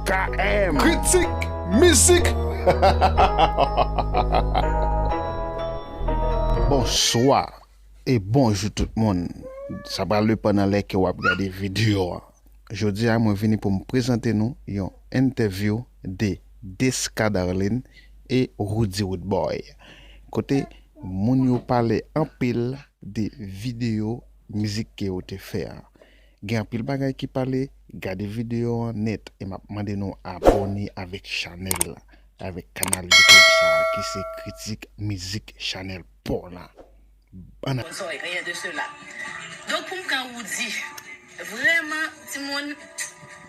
KM. Kritik mizik! Bonswa e bonjou tout moun! Sa pral depan nan lè ke wap gade video a. Jodi a mwen vini pou m prezante nou yon entèvyou de Desca Darline e Roody Roodboy. Kote moun yo pale anpil de video mizik ke yo te fè a. Gen anpil bagay ki pale gade video an nèt e map mande nou abòne avèk chanèl la avèk kanal YouTube sa ki se kritik mizik chanèl paw la bann Sorry rien de cela. Donk pou m pran Roody. Vrèman timoun.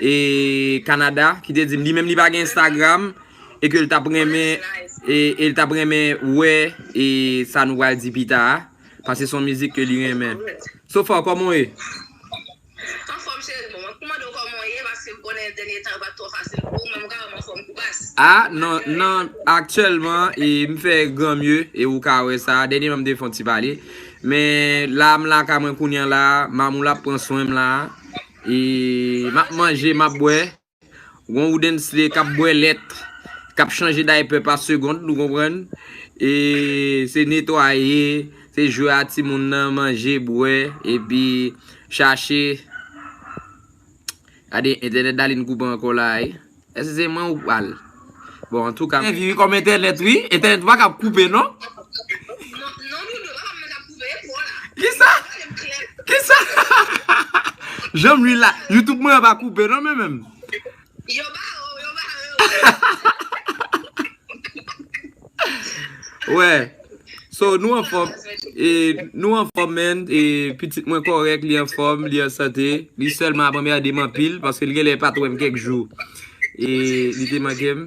e Canada ki te dim li menm li pa gen Instagram e ke li tap renmen e e li tap renmen wè e sa nou pral di pita a paske son mizik ke li renmen so far koman w ye? Anfòm cheri bon mwen mande w koman w ye paske m konnen dènye tan yo pat twò fasil pou ou men mwen ka wè m anfòm kou bas. A nan nan aktyèlman e m fè gran mye e ou ka wè sa dènyeman m te fè yon ti pale men la m lakay mwen kounye an la Mamoula ap pran swen m la E map manje map bwè. Gon Woodensley kap bwè lèt, kap chanje daypè pa segond nou konprann. E se netwaye, se jwe a timoun nan, manje, bwè, epi chache. Gade entènèt Darline koupe ankò la a wi. Eske se mwen ou pral. Bon antouka. Mwen vivi kòm entènèt wi. Entènèt pa kab koupe non. Non dodo pa kab mwen kab koupe e pwa la. Kisa? Kisa? Janm li la. Youtube mwen an pa koupe non men menm. Yo bare w yo bare w. Wè So nou anfòm e nou anfòm menn e pitit mwen kòrèk li anfòm li an sante li sèlman ap anmède m anpil paske li genlè pat wèm kèk jou e li te manke m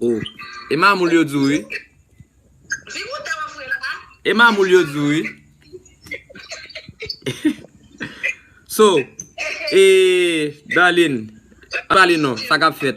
oh e mamoul yo di w wi e mamoul yo di w wi So e Darline pale non sa kap fèt.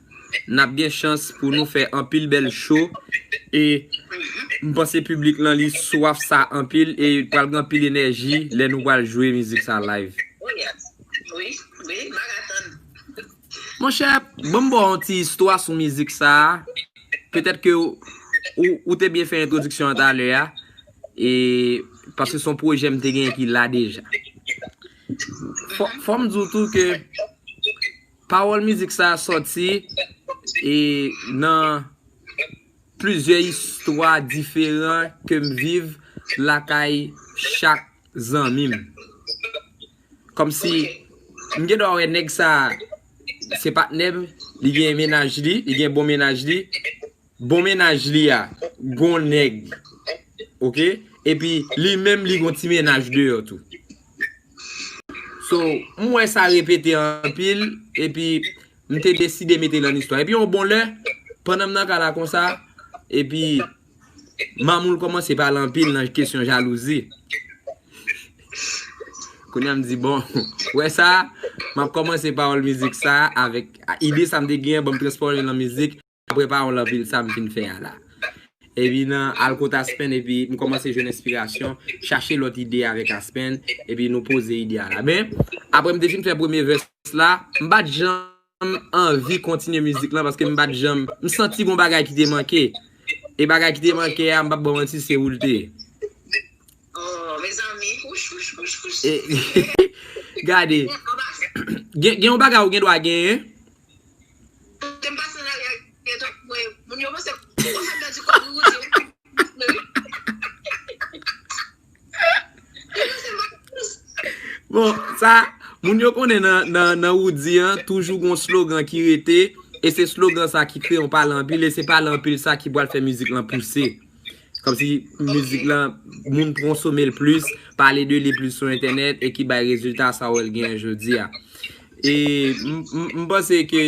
nap gen chans pou nou fè anpil bèl show e m panse piblik lan li swaf sa anpil e pral gen anpil enèji lè nou pral jwe mizik sa live. Monchè, banm ba w yon ti istwa sou mizik sa a, petèt ke ou te byen fè entwodiksyon an talè a, e paske se yon pwojè m te genyen ki la deja. Fò m di w tou ke. Pawòl mizik sa a sòti e nan plizyè istwa diferan ke m viv lakay chak zanmi m. Kòmsi m gen dwa wè nèg sa a se patnè m, li gen mennaj li, li gen bon mennaj li, Bon mennaj li a gon nèg ok epi li menm li gon ti mennaj deyò tou so m wè sa repete anpil epi m te deside mete l an istwa epi yon bon lè pandan m nan ka la konsa epi mamoul kòmanse pale anpil nan kesyon jalouzi kounya m di bon wè sa m ap kòmanse pawòl mizik sa avèk ide sa m te genyen banm transfòme l an mizik. Apre pa yon lan vil sa m fin fè a la. Epi nan al kot Aspen epi m kòmanse jwenn enspirasyon, chache lòt ide avèk Aspen epi nou poze ide a la. Men, apre m te fin fè premye vès la, m pa t janm anvi kontinye mizik lan paske m pa t janm, m santi gon bagay ki te manke. E bagay ki te manke a, m p ap ba w manti, se ou l te ye. Oh mezanmi wouch wouch wouch wouch. Gade, gen yon bagay ou gen dwa genyen, Kote m pase la gen gen trafik mwen yo. Moun yo panse m wap fèm pèdi kòb wi Roody wap fèm pèdi kòb Yo panse m ak plis. Bon sa moun yo konnen nan Roody an toujou gon slogan ki rete e se slogan sa ki kreye yon pale anpil e se pale anpil sa ki pwal fè mizik lan pouse. Kòmsi mizik la moun konsome l plis, pale de li plis sou entènèt e ki bay rezilta sa wè l genyen jodi a. E m panse ke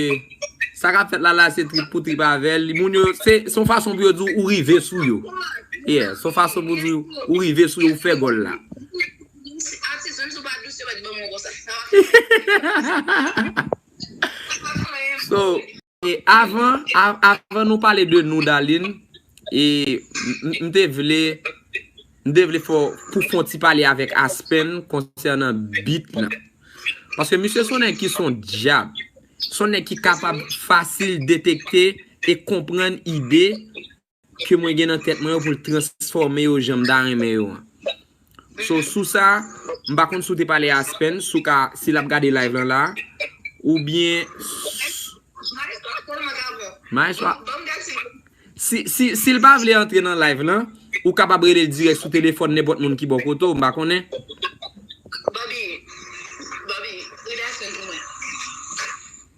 sa k ap fèt la la se trip pou trip avè l. Moun yo se se yon fason pou yo di w ou rive sou yo. Yeah, se yon fason pou di w ou rive sou yo, ou fè gòl la. Atis, menm si w pa dous yo mèt ban m yon konsa. Sa pa fè anyen pou mwen. E avan avan nou pale de nou Darline e m te vle m te vle fè w pou fon ti pale avèk Aspen konsènan beat lan. Paske misye son nèg ki son dyab. Son nèg ki kapab fasil detekte e konprann ide ke mwen gen nan tèt mwen yo pou l transfòme yo jan m ta renmen yo an. So sou sa, m pa konn si w te pale a Aspen si w ka, si l ap gade live lan la a, oubyen Maestro ap pran nòt avan. Maestro ap. Ban m gad si l. Si, si, si l pa vle antre nan live lan, ou kapab rele l dirèk sou telefòn nenpòt moun ki bò kote w, m pa konnen. Bòbi, Bòbi, rele Aspen pou mwen.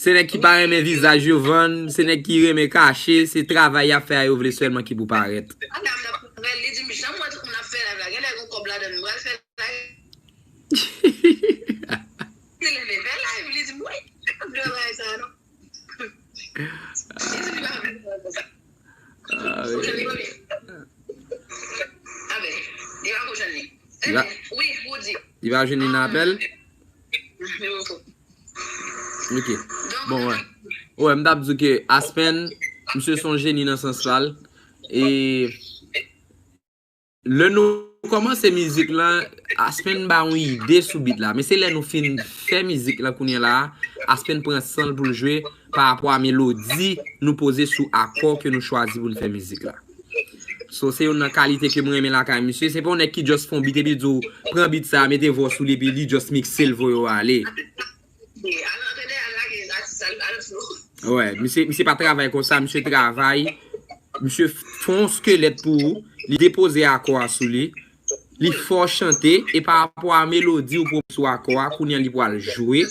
Se nèg ki pa renmen vizaj yo vann, se nèg ki renmen kache, se travay y ap fè a yo vle sèlman ki pou parèt. Li pa jwenn ni nan apèl? Ok, bon wè Wè m tap di w ke Aspen Misye son jeni nan sans pa l E Lè nou kòmanse mizik la Aspen ba yon ide sou bit la Men se lè nou fin fè mizik la kounye la Aspen pran san l pou l jwe Parapò a melodi nou poze sou akò ke nou chwazi pou n fè mizik la So se youn nan kalite kem renmen lakay misye, se pa yon nèg ki just fon beat epi l di w pran beat sa mete vwa w sou li epi li just mikse l voye w ale. Al antrene al lage atis sa l al jwe. Wè, misye misye pa travay konsa, misye travay, misye fon yon skelet pou ou, li depoze akò a sou li, Li fè w chante e pa rapò a melodi ou pwomèt sou akò a kounye a li pral jwe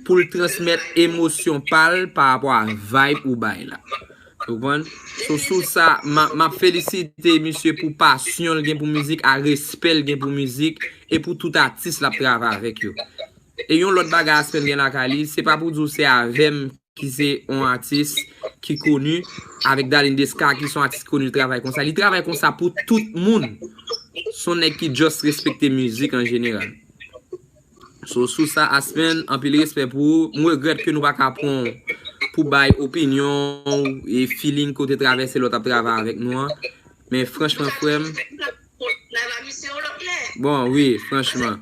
pou l transmèt emosyon pa l pa rapò a vayb ou bay la. Ou konprann? So sou sa m ap felisite misye pou pasyon l gen pou mizik a respè l gen pou mizik e pou tout atis l ap travay avèk yo. E yon lòt bagay Aspen gen lakay li se pa pou di w se avè m ki se yon atis ki koni, avèk Darline Desca ki se yon atis ki koni li travay konsa. Li travay konsa pou tout moun. Se yon nèg ki just respekte mizik an jeneral. So sou sa Aspen, anpil respè pou ou. M regrèt ke nou pa ka pran w pou bay opinyon ou e feeling ke w te travèse lè w t ap travay avèk nou an. Men franchman frè m. Bon wi, franchman.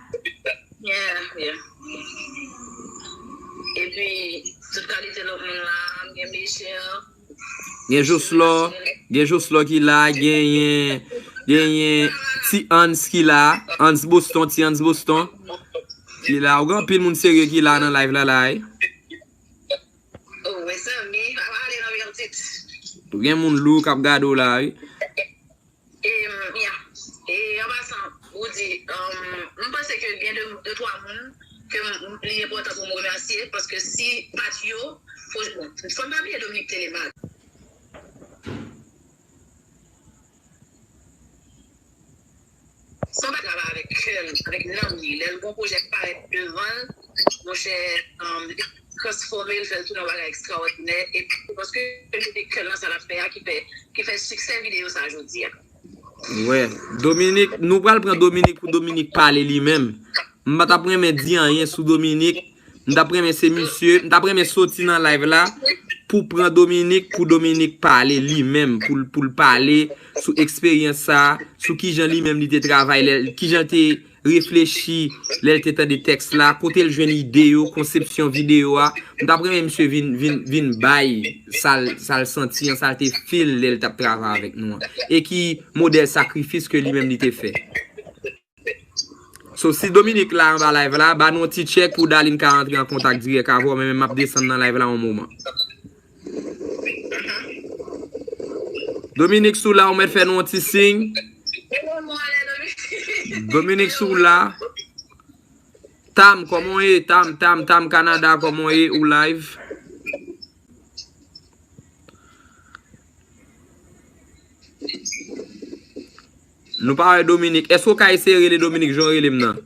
Gen joslò Gen joslò ki la genyen Genyen ti ans ki la Ans boston ti ans boston Ki la ou gen anpil moun serye ki la nan live la la wi Gen moun lou kap gade w la wi. Mya, E an pasan, Roody, m panse ke gen de twa moun ke li enpòtan pou m remèsye, paske si pa t yo, fò n pa bliye Dominique Télémaque. Son bagay ki travay avèk kè l, avèk nanm li, lè l gen yon pwojè ki parèt devan l, monchè. transfòme l, fè l tounen yon bagay ekstraòdinè epi se paske l mete kè l nan sa l ap fè a ki fè siksè videyo sa jodi a. Wè, Dominik, nou pral pran Dominik pou Dominik pale li menm. M pa t ap renmen di anyen sou Dominik, m t ap renmen se misye, m t ap renmen soti nan live la pou pran Dominik pou Dominik pale li menm, pou l pale sou eksperyans sa, sou kijan li menm li te travay lè, kijan l te. reflechi lè l te tande tèks la, kote l jwenn ide yo, konsepsyon videyo a. M t ap renmen misye vin bay sa l santi an, sa l te feel lè l t ap travay avèk nou an. E ki modèl sakrifis ke li menm li te fè. So, si Dominique la anba live la, ba nou yon ti tchèk pou Darline ka antre an kontak dirèk avè w, men men m ap desann nan live la yon moman. Dominique si w la ou mèt fè nou yon ti siy. Dominique si w la. Tam kòman w ye? Tam, Tam, Tam Canada kòman w ye? Ou live. Nou pa wè Dominique. Èske w ka eseye rele Dominique jan w rele m nan?